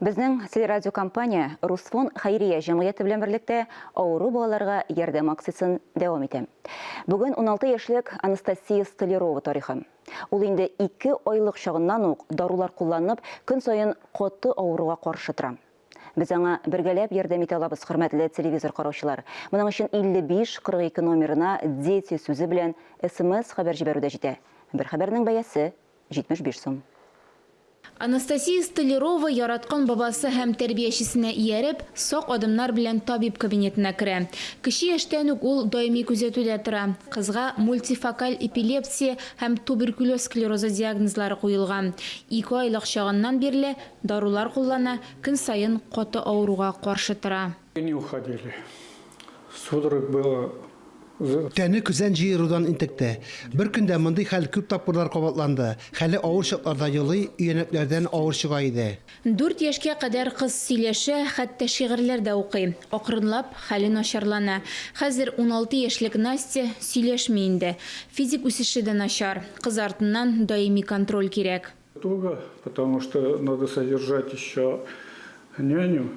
Безнең телерадиокомпания Русфон хәйрия җәмгыяте белән берлектә авыру балаларга ярдәм акциясен дәвам итә. Бүген 16 яшьлек Анастасия Столярова тарихы. Ул инде ике айлык чагыннан ук дарулар кулланып, көн саен каты авыруга каршы тора. Без аңа бергәләп ярдәм итә алабыз, хөрмәтле телевизор караучылар. Моның өчен 5542 номерына Дети сүзе белән смс хәбәр җибәрү дә җитә. Бер хәбәрнең бәясе 75 сум. Анастасия Столярова яраткан бабасы һәм тәрбиячесенә ияреп, сак адымнар белән табиб кабинетына керә. Кече яшьтән үк ул даими күзәтүдә тора. Кызга мультифокаль эпилепсия һәм туберкулез склерозы диагнозлары куелган. Ике айлык чагыннан бирле дарулар куллана, көн саен каты авыруга каршы тора. И не уходили. Судорог было. Тәне көзән җыерудан интекте. Бер көндә мондый хәл күп тапкырлар кабатланды. Хәле авыр чакларда елый, өянәкләрдән авыр чыга иде. Дүрт яшькә кадәр кыз сөйләшә, хәтта шигырьләр дә укый. Акрынлап, хәле начарлана. Хәзер уналты яшьлек Настя сөйләшми инде. Физик үсеше дә начар. Кыз артыннан даими контроль кирәк. Туго, потому что надо содержать еще няню.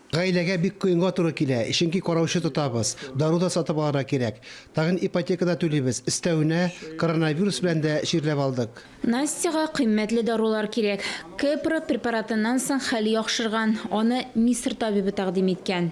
Гаиләгә бик кыенга туры килә, чөнки караучы тотабыз, дару да сатып алырга кирәк. Тагын ипотека да түлибез, өстәвенә, коронавирус белән дә чирләп алдык. Настяга кыйммәтле дарулар кирәк. Кепра препаратыннан соң хәл яхшырган, аны Мисыр табибы тәкъдим иткән.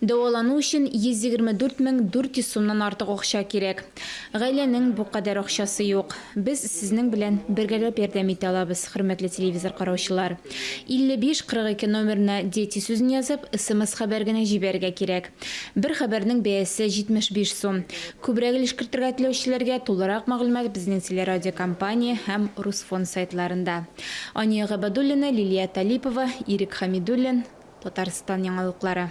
Дәвалану өчен 124 мең 400 сумнан артык акча кирәк. Гаиләнең бу кадәр акчасы юк. Без сезнең белән бергәләп ярдәм итә алабыз, хөрмәтле телевизор караучылар. 55 42 номерына Дети сүзен язып, смс-хәбәр генә җибәрергә кирәк. Бер хәбәрнең бәясе 75 сум. Күбрәк өлеш кертергә теләүчеләргә тулырак мәгълүмат безнең телерадиокомпания һәм Русфонд сайтларында. Ания Габадуллина, Лилия Талипова, Ирек Хәмидуллин, Татарстан яңалыклары.